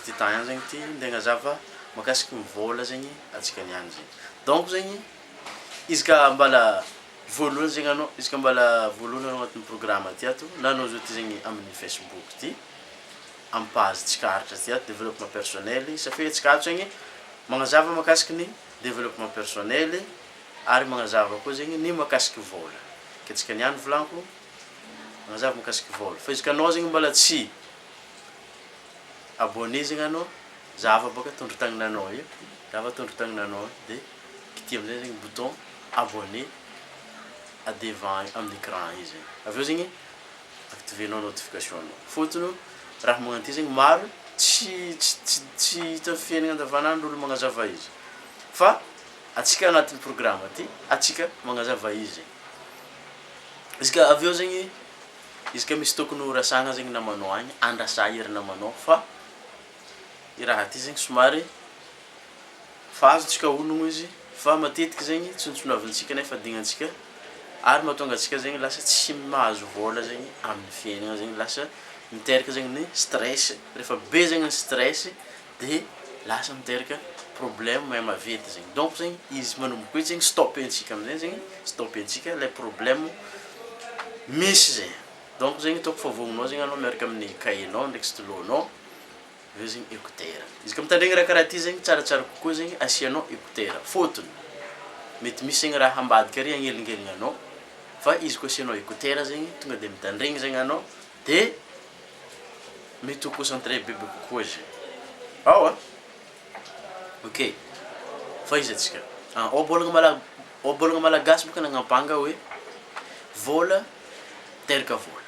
Ty temps ihany zegny ty nde agnazava makasiky ny vola zegny antsika niany zegny donc zegny izy ka mbala voalohany zegny anao izy ka mbala voalohany anao agnatin'ny programme ty ato na anao zao ty zegny amin'ny facebook ty am page tsika aritra ty ato développement personnel i safe tsika ato zegny magnazava makasiky ny développement personnel i ary magnazava koa zegny ny makasiky vola ke tsika niany volanko magnazava makasiky vola fa izy ka anao zegny mbala tsy abonnés zegny anao za afa boka tondro tagnananao io za afa tondro tagnananao io de kitiha amizay zegny bouton abonnés a devant aminy écran io zegny aveo zegny activenao notification nao fôtony raha magnagno ty zegny maro tsy tsy tsy hita am fiaignana andavanandro olo magnazava izy fa atsika agnatiny programme ty atsika magnazava izy izy ka aveo zegny Izy ka misy tokony ho resahana zegny namanao agny andrasa ery namanao fa i raha ty zegny somary fa azontsika honogno izy fa matetiky zegny tsontsonavin-tsika nefa dignantsika ary mahatonga antsika zegny lasa tsy mahazo vôla zegny amin'ny fiaignana zegny lasa miteraka zegny ny stress refa be zegny ny stress de lasa miteraka problème mahay maventy zegny donc zegny izy manomboka eo zegny stop-ntsika amizay zegny stop-ntsika lay problème misy zay donc zegny ataoko fa vogninao zegny anao miaraka amin'ny cahier-nao ndraiky stylo nao aveo zegny écouteur izy ka mitandregny raha karaha ty zegny tsaratsara kokoa zegny asianao écouteur fôtony mety misy zegny raha ambadika ary agnelingeligna anao fa izy ko asianao écouteur zegny tonga de mitandregny zegny anao de mety ho concentré bebe kokoa izy ao a, ok fa iza tsika an ohabolana mala ohabolana malagasy boka nagnambanga hoe vola miteraka vola,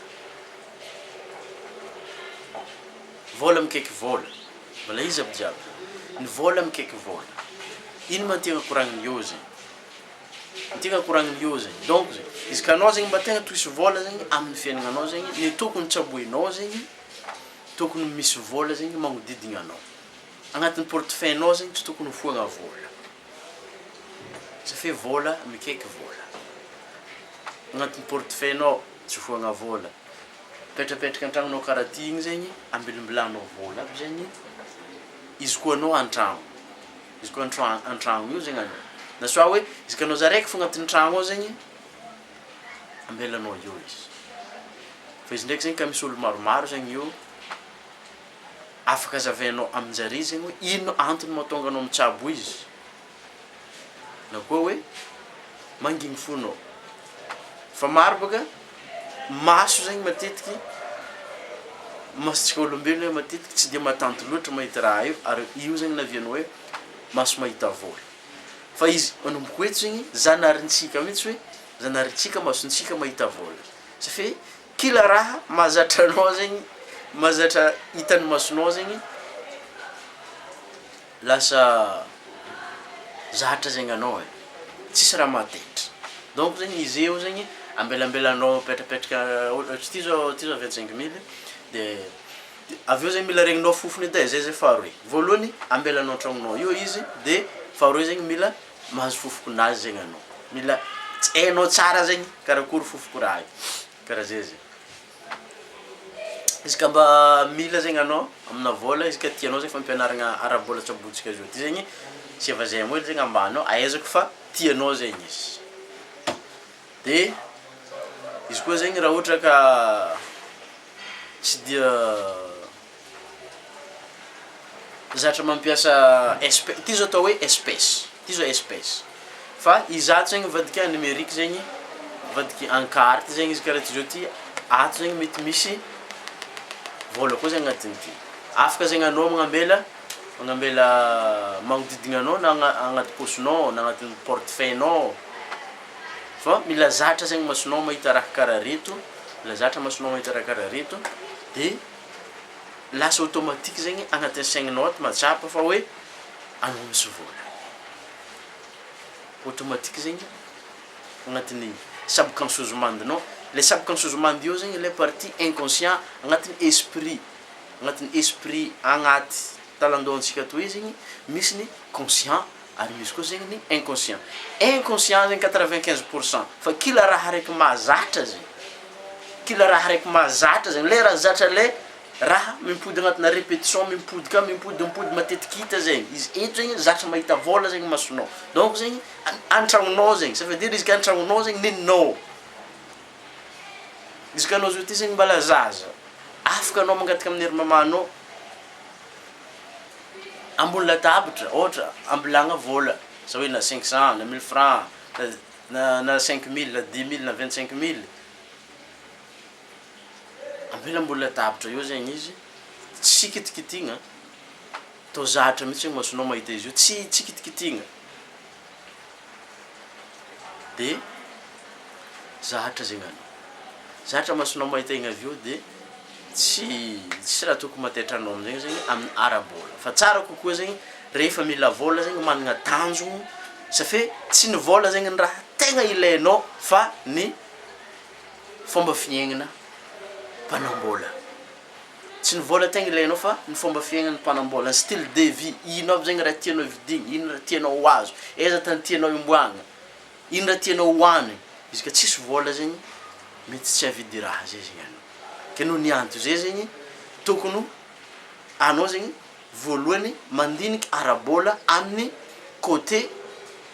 vola mikeky vola, mbola iza aby jiaby ny vola mikeky vola, ino ma tegna koragniny eo zegny. Ity ka koragniny io zegny donc zegny izy ka anao zegny mba tegna toisy vôla zegny aminy fiaignana anao zegny ny tokony tsaboinao zegny tokony misy vôla zegny magnodidigna anao agnatiny portefeuille nao zegny tsy tokony ho foagna vôla tsy fe vôla mikaiky vôla agnatiny portefeuille nao tsy foagna vôla mipetrapetraka antragnonao kara ty igny zegny ambilimbilanao vôla aby zegny izy koa anao antragno. Izy koa antrano antragno eo zegny anao na soit hoe izy ka anao za raiky fogna agnatin'ny tragno ao zegny ambelanao eo izy fa izy ndraiky zegny ka misy olo maromaro zegny eo afaka azavainao amin-jare zegny hoe ino antony mahatonga anao mitsabo izy na koa hoe mangigny fo anao. Fa maro baka maso zegny matetiky masontsika olombelogno hoe matetiky tsy de matanty loatra mahita raha io ary io zegny naviagny hoe maso mahita vôla fa izy manomboko eto zegny zanarintsika mitsy hoe zanarintsika masontsika mahita vôla sa fe kila raha mahazatra anao zegny mahazatra hitan'ny masonao zegny Lasa zatra zegny anao e, tsisy raha mahataitra. Donc zegny izy eo zegny ambelambelanao apetrapetraka ôhatra ty zao ty zao vingt cinq mille de avy eo zegny mila regninao fofony edy e, zay zay faharoe, voalohany ambelanao an-tragnonao eo izy de faharoe zegny mila mahazo fofokonazy zegny anao, mila hainao tsara zegny karakory fofoko raha io. Karaha zay zay. Izy ka mba mila zegny anao amina vôla izy ka tianao zegny fampianaragna ara-bôla tsy ambotsika zao ty zegny tsy efa zay ambola zegny ambanao ahaizako fa tianao zegny izy de izy koa zegny raha ohatra ka tsy dia Zatra mampiasa espèce, ity zao atao hoe espèce, ity zao espèce fa i zato zegny mivadika en numérique zegny mivadika en carte zegny izy karaha ty zao ty, ato zegny mety misy vôla koa zegny agnatigny ty, afaka zegny anao magnambela magnambela magnodidigna anao na agna- agnaty paosinao na agnaty portefeuille-nao, fa mila zatra zegny masonao mahita raha karaha reto, mila zatra masonao mahita raha karaha reto de. lasa automatique zegny agnatin'ny saignanao ato mahatsapa fa hoe anao misy vola. Automatique zegny agnatin'ny subconscious mind-nao, le subconscious mind io zegny le partie inconscient agnatin'ny esprit, agnatin'ny esprit agnaty talan-dohantsika atoy zegny misy ny conscient Ary misy koa zegny ny inconscient. Inconscient zegny quatre vingt quinze pour cent fa kila raha araiky mahazatra zegny, kila raha araiky mahazatra zegny, le raha zatra le raha mimpody agnatina repetition, mimpody ka mimpody mimpody matetiky hita zegny, izy eto zegny zatra mahita vôla zegny masonao, donc zegny an- antragnonao zegny, ça veut dire izy ka antragnonao zegny nenao, izy ka anao zao ty zegny mbala zaza, afaka anao mangataka amin'ny ry mamanao, ambony latabitra ohatra ambilagna vola zao hoe na cinq cent na mille franc na na cinq mille na dix mille na vingt cinq mille ambela ambony latabitra eo zegny izy tsy kitikitigna tô zatra mitsy ny masonao mahita izy io tsy tsy kitikitigna. de zahatra zegny anao zatra masonao mahita igny avy eo de tsy tsisy raha tokony mataitranao amizegny zegny amin'ny ara-bola fa tsara kokoa zegny rehefa mila vola zegny managna tanjogno sa fe tsy ny vola zegny ny raha tegna ilainao fa ny fomba fiaignana mpanam-bola Tsy ny vola tegna ilainao fa ny fomba fiaignan'ny mpanam-bola, ny style de vie, ino aby zegny raha tianao vidigny, ino raha tianao ho azo, aiza tany tianao himboagna, ino raha tianao hohanigny, izy ka tsisy vola zegny mety tsy hahavidy raha zay zegny anao, ke noho ny antony zay zegny tokony anao zegny. voalohany mandinika ara-bola amin'ny côté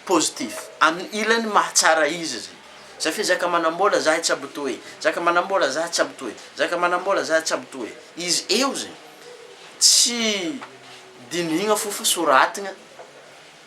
positif, amin'ny ilany mahatsara izy zay. Zay fa zaka manam-bola zahay tsy abto e, zaka manam-bola zahay tsy abto e, zaka manam-bola zahay tsy abto e. Izy eo zay. Tsy dinihigna fo fa soratigna.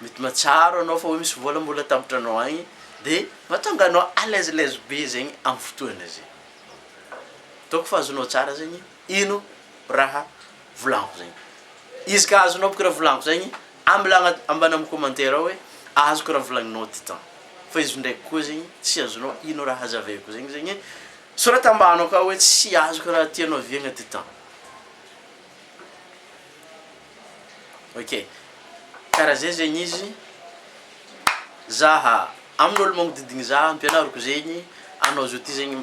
mety mahatsiaro anao fa hoe misy vola mbola atambotranao agny de mahatonga anao alezilez be zegny am fotoagna zay, donc fa azonao tsara zegny ino raha volagniko zegny, izy ka azonao boka raha volagniko zegny ambela agna- ambana am commentaire ao hoe azoko raha volagninao titan fa izy ndraiky koa zegny tsy azonao ino raha hazavaiko zegny zegny sorata ambany akao hoe tsy azoko raha tianao viagna titan. Ok kara zay zegny izy zaha amin'olo magnodidigny zaha ampianariko zegny anao zao ty zegny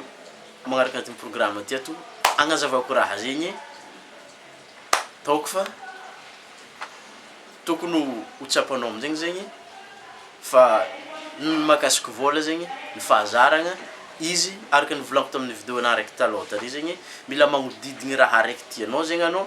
magnaraka ty programa ty ato agnazavako raha zegny ataoko fa tokony ho tsapanao amizegny zegny fa ny mahakasiky vôla zegny ny fahazaragna izy araka ny volako taminy video ana raiky taloha tary zegny mila magnodidigny raha raiky tianao zegny anao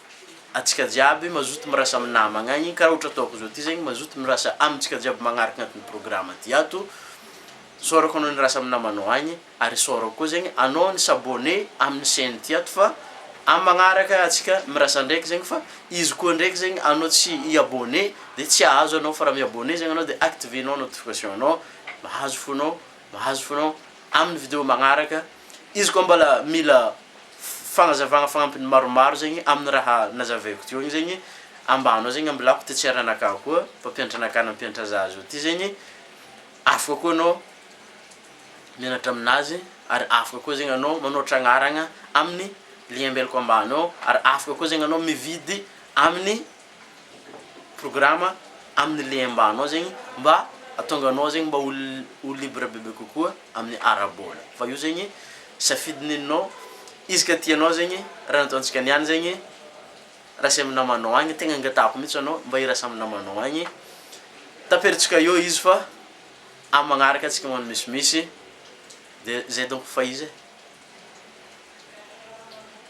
Antsika jiaby mazoto mirasa am namagna agny karaha ohatra ataoko zao ty zegny mazoto mirasa amintsika jiaby magnaraka agnatin'ny programa ty ato isaorako anao nirasa am namanao agny ary isaorako koa zegny anao ni s'abonne amin'ny chaine ty ato fa am magnaraka atsika mirasa ndraiky zegny fa izy koa ndraiky zegny anao tsy i abonne de tsy ahazo anao fa raha mi abonne zegny anao de activenao notification anao mahazo fonao mahazo fonao amin'ny video magnaraka Izy koa mbola mila fagnazavagna fagnampiny maromaro zegny amin'ny raha nazavaiko teo igny zegny ambany ao zegny amin'ny lako ty tsy eranakà koa mpampianatra anakà nampianatra zah zao ty zegny afaka koa anao mianatra aminazy ary afaka koa zegny anao manao tragnaragna amin'ny lien ambelako ambany ao ary afaka koa zegny anao mividy amin'ny programa amin'ny lehimbanao zegny mba ahatonga anao zegny mba ho ho libre bebe kokoa amin'ny ara-bola fa io zegny safidy neninao izy ka tianao zegny raha nataontsika niany zegny raha samy namanao agny tegna angatahiko mihitsy anao mba hirasa amin'ny namanao agny tapirintsika eo izy fa amin'ny magnaraka antsika magnano misimisy de zay donko fa izy e.